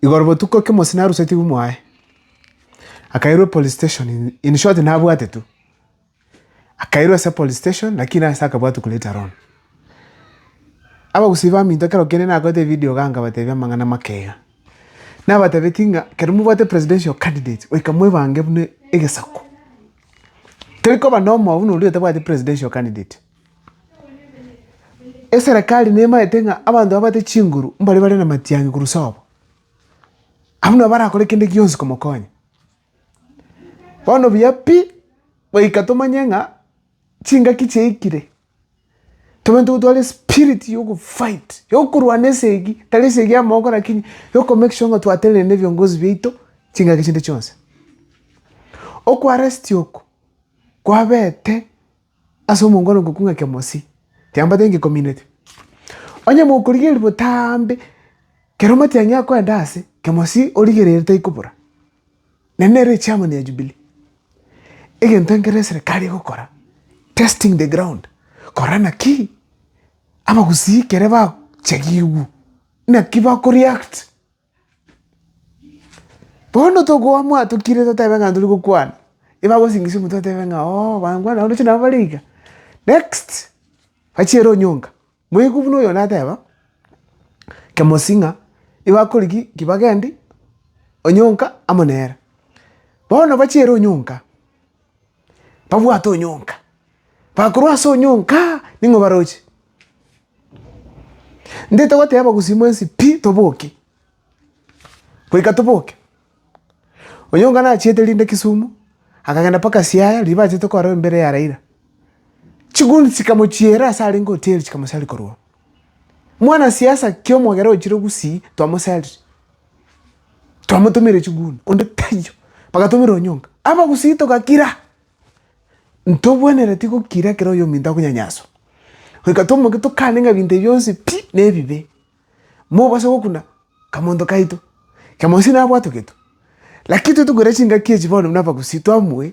Igoro botuko ekemosio narusetigwe mwaye, akairwa police station, in short nabwate tu. Akairwa ase police station lakini ase akabwatwa kuleta loan. Abagusii baminto ekero kende nakorete ebidio igaa nkabatebia amang'ana amake iga. Nabatebetie ng'a ekero mobwate presidential candidate goika mwebange buna egesaku. Tari koba na omoyo buna oria otabwati presidential candidate. Eserekari nemaete ng'a abanto babate chinguru mbare bare namatiangi korwa sobo. Abwo nabo barakore kende gionsi komokonya. Bono buya pi, goika tomanye ng'a chingaki chiaikire, tobe ntotware espiriti ya ogofight, ya okorwana esegi, tari esegi ya mogo rakini ya okomake sure ng'a twatenenire na ebiongozi biaito chingaki chinde chionsi. Okoaresti oko, kwabete. Ase omonto one ogokunga kemosi, tiambate ngekomineti. Onye mokorigereria botambe, kero omatiang'i akoenda aase, kemosi origereire taikobora. Naende nere echairman ya Jubilee, egento ekero eserekari egokora, testing the ground, kora naki abagusii ekero bachagigwa, naki bako react. Bono tokoa mwatokire totebe ng'a tori gokwana, ebagosingisia omonto batebe ng'a oo bankwana roche nabo bare iga. Next, bachiere onyonga, moigwe buna oyo nateba, kemosii ng'a ebakore ki? ki bagendi onyonka amo nere. Bono bachiere onyonka, babwate onyonka, bakorwa ase onyonka ning'o baroche? Ndete goteba gosii mwensi pi toboke, goika toboke. Onyonka nachiete rinde Kisumu, akagenda mpaka Siaya riria bachete korwa embere ya Raila. Chiguni chikamochiera ase arenge hoteli chikamosari korwa oo. Mwanasiasa kiomogera ochire gusii twamosaria. twamotomeire chiguni onde taiyo, bagatomerwa onyonga, abagusii togakira, ntobwenereti gokira ekero oyo ominto akonyanyaswa, goika tomoke tokane ng'a ebinto ebi bionsi pi nebibe, mobase gokuna akamonto kaito, kera monsi nabwate ogetwe, lakini toigwere chingaki echi bono buna abagusii twamue.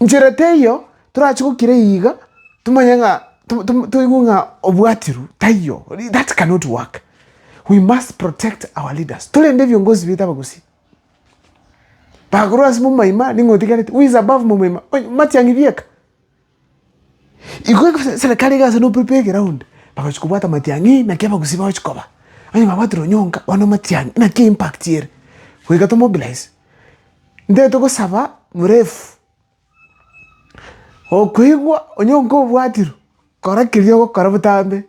Nchera teiyo torache gokira eyio iga tomanye ng'a toigwe ng'a obwatirwe taiyo, that cannot work. We must protect our leaders, torende ebiongozi baito abagusii. Bakorwa ase momoima ning'o otigarete, who is above momoima? Onye matiang'i bieka. Igo eserikari egasa na opepe egeroundi, bagachi kobwata amatiang'i naki abagusi bagochi koba. Onye babwatire onyonka bono amatiang'i naki impact ere, goika tomobilize. Ntaete gosaba murefu, okoigwa onyonka obwatirwe, kora keria ogokora botambe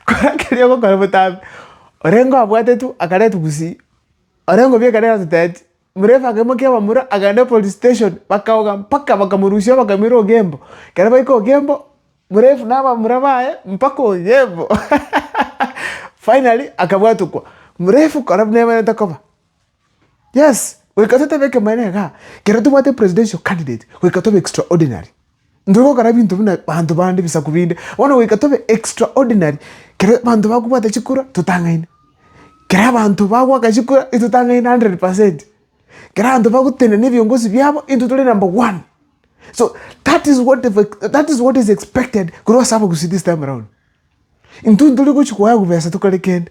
kora keria ogokora botambe. Orenge abwate tu akareti gusii, orenge obiekane ase teti. Omorefaa kemo ki'abamura agenda epolice station, bakaoga mpaka bakamorusia bakamoira Ogembo. Ekero baika Ogembo, Morefu na abamura baye mpaka Ogembo. Finally akabwatokwa. Morefu kora buna emerete koba. Yes, goika totabe ekemanera igaa, ekero tobwate presidential candidate, goika tobe extraordinary. Intwe gokora ebinto buna banto bande, ebisaku binde, bono goika tobe extraordinary, kero abanto bakobwata chikura totang'aine, kero abanto bagoaka chikura intotang'aine hundred percent, kero abanto bagotenena ebiongozi biabo intwe tore number one. So that is what the that is what is expected korwa ase abagusii this time around. Intwe ntori gochia koewa bibesa tokore kende,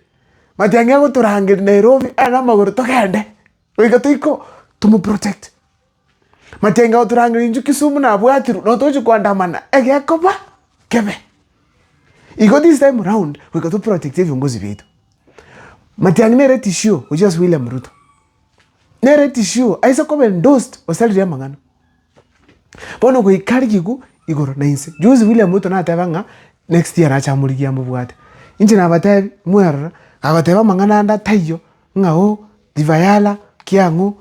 matiang'i agotorangeria Nairobi aye namagoro togende, goika toikoo, tomoprotect. Matenga otorangera inchuo Kisumu nabwatirwe na otochi koandamana egekoba kebe. Igo this time round goika to protect ebiongozi biaito. Matiang'i nere tishio gochia ase William Ruto. Nere tishio aise koba endorsed gose ariria amang'ana. Bono goika arigiku igoro na inse. Juzi William Ruto nateba ng'a next year arache amorigie amobwate. Inche nabatebi mwerora agoteba amang'ana ande ataiyo ng'a oh river yala ki ang'o.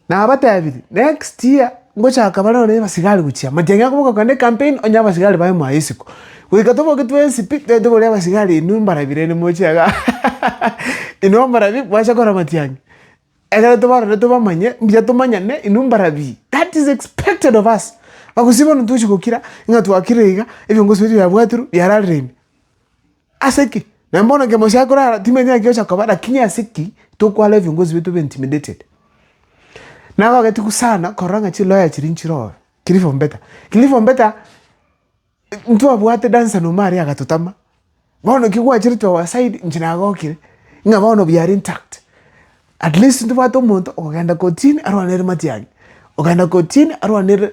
Nabatebirie, next year ngochaka bare ore abasigari gochia amachia ng'a koboka kane campaign onye abasigari baye mwaye isiko. Goika toboke twensi pi, tari tobori abasigari inwe mbarabire ere moche iga inwe mbarabi mwacha kora amatiang'i. Ekero tobarore tobamanye, mbuya tomanyane inwe mbarabi. That is expected of us. Agusibana tochi gokira, ng'a twakire iga, ebiongozi biaito biabwaterwe biararire ime. Ase ki? Na mbono inki Mosaya korara? Timenyeti gocha koba, lakini ase ki tokwara ebiongozi biaito be intimidated? Nagogeti sana korora ng'a chiloya chiria nchirobe, kiri for better, kiri for better, ntwabwate dansa na omaaria agatotama, bono ki gwacherete our side, inche nagokire, ng'a bono we are intact, at least ntobwate omonto okogenda kotini arwanere matiang'i, okogenda kotini arwanere.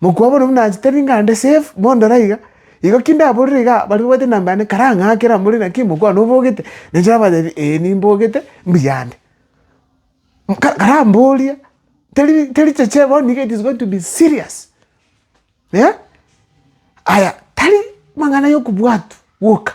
Mokwabo nobwo nache tari ngande save mondore aiga. Igo ki ndaborire iga baria babwate enamba yane karang'akere amo rende naki mokwao nobogete? Nenche nabatebi, Ee nimbogete, mbuya ande. Karamboria, teri teri cheche bono niga it is going to be serious eh. Aya tari mang'ana ya okobwatwa gwoka.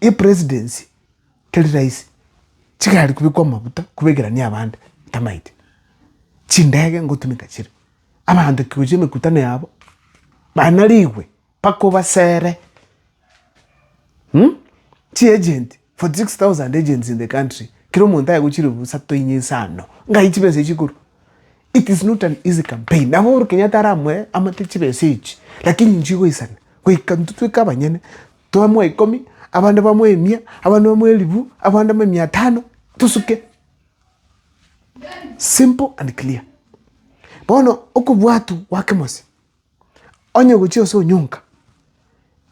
Epresidency teri rahisi, chigari kobekwa amaguta kobekerania abande ntamaeti, chindege ngotumeka chire, abanto ekegocha emekutano yabo bana rigwe mpaka obasere chiagent forty six thousand agents in the country kera omonto aye gochia ribusa toinyia inse ano ng'ai chibesa echi chikorwa? It is not an easy campaign nabo Uhuru Kenyatta aramoe amate chibesa echi lakini inchigoisana goika intwe totueke abanyene. Twamoa ikomi, abande bamoe emia, abande bamoe elifu, abande bamoe mia tano, tosuke. Simple and clear. Bono okobwatu gwake mose, onye ogochia gose onyonka,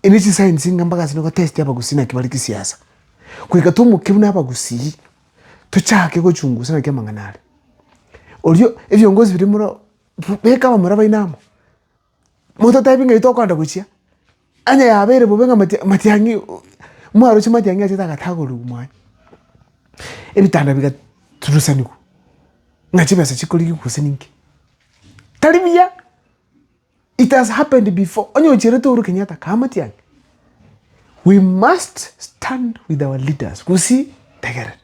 ebi chisayensi iga mpaka ase nogotesti abagusii naki bare chisiasa. Goika tomoke buna abagusii, tochake gochungusa naki amang'ana are. Oria, ebiongozi bire muroo, beka abamura baino amo, Mototebi ng'ai tokoenda gochia, onye yabeire bobe ng'a mati matiang'i mwaroche matiang'i achete agatagorigwa mwane. Ebitanda bigaturusanigwa ng'a chibesa chikorigia gose ninki. Tari buya, it has happened before, onye ocherete Uhuru Kenyatta kaa matiang'i, we must stand with our leaders gosii tegerera.